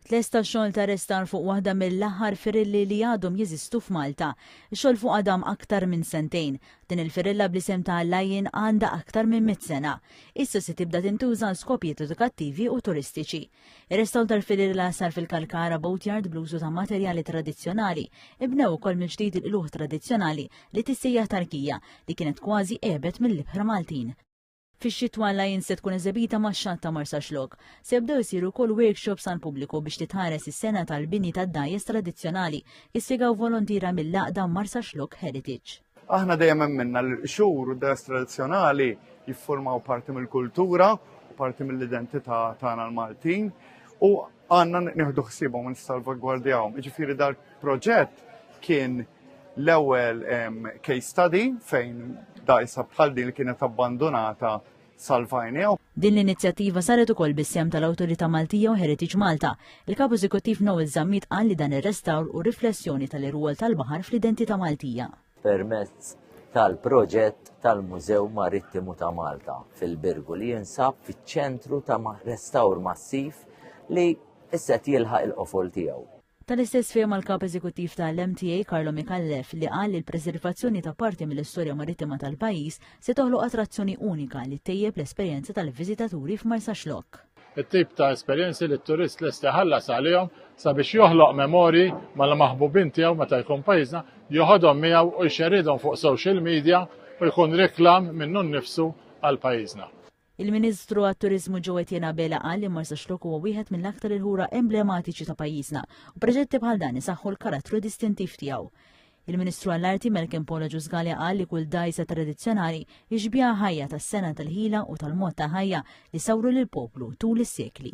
Tlesta xogħol ta' restar fuq waħda mill-aħħar firilli li għadhom jeżistu f'Malta. Ix-xogħol fuqha dam aktar minn sentejn. Din il-firilla bl-isem ta' Lion għandha aktar minn mitt sena. Issa se tibda tintuża għal skopijiet edukattivi u turistiċi. Ir-restawr tal-firilla sar fil-Kalkara Boatyard bl-użu ta' materjali tradizzjonali. Ibnew ukoll mill-ġdid il-qluħ tradizzjonali li tissejjaħ tarkija li kienet kważi qebet mill-ibħra Maltin. Fix-xitwa l-Lions se tkun eżebita max-xatt ta' Marsaxlokk. Se jibdew isiru wkoll workshops għall-pubbliku biex titħares is-sengħa tal-bini tad-dgħajjes tradizzjonali, ispjegaw volontiera mill-għaqda Marsaxlokk Heritage. Aħna dejjem emminna li l-qxur u d-dgħajjes tradizzjonali jiffurmaw parti mill-kultura u parti mill-identità tagħna l-Maltin u għandna nieħdu ħsiebhom u nissalvagwardjawhom. Jiġifieri dal-proġett kien L-ewwel case study fejn dajsa bħal din li kienet abbandunata salvajnew. Din l-inizjattiva saret ukoll bis-sem tal-Awtorità Maltija u Heritage Malta. Il-Kap Eżekuttiv Noel Zammit qal li dan ir-restawr u riflessjoni tal-irwol tal-baħar fl-identità Maltija. Permezz tal-proġett tal-Mużew Marittimu ta' Malta fil-Birgu li jinsab fiċ-ċentru ta' restawr massiv li isset jilħaq il-qofol tiegħu. Tal-istess fehma l-Kap Eżekuttiv ta' l-MTA Carlo Micallef li qal li l-preservazzjoni ta' parti mill-istorja marittima tal-pajjiż se toħloq attrazzjoni unika li ttejjeb l-esperjenza tal-viżitaturi f'Marsaxlokk. It-tip ta' esperjenzi li t-turist lest iħallas għalihom sabiex joħloq memorji mal-maħbubin tiegħu meta jkun pajjiżna, joħodhom miegħu u jxerridhom fuq social media u jkun reklam minnu nnifsu għal pajjiżna. Il-Ministru għat-Turiżmu Joe Etienne Abela qal li Marsax Lok huwa wieħed mill-aktar il-ħura emblematiċi ta' pajjiżna u proġetti bħal dan isaħħu l-karattru distintiv tiegħu. Il-Ministru għall-Arti Malcolm Paula Ġużgalja qal li kull dajsa tradizzjonali jixbiha ħajja tas-sena tal-ħila u tal-mod ta' ħajja li sawru lill-poplu tul is-sekli.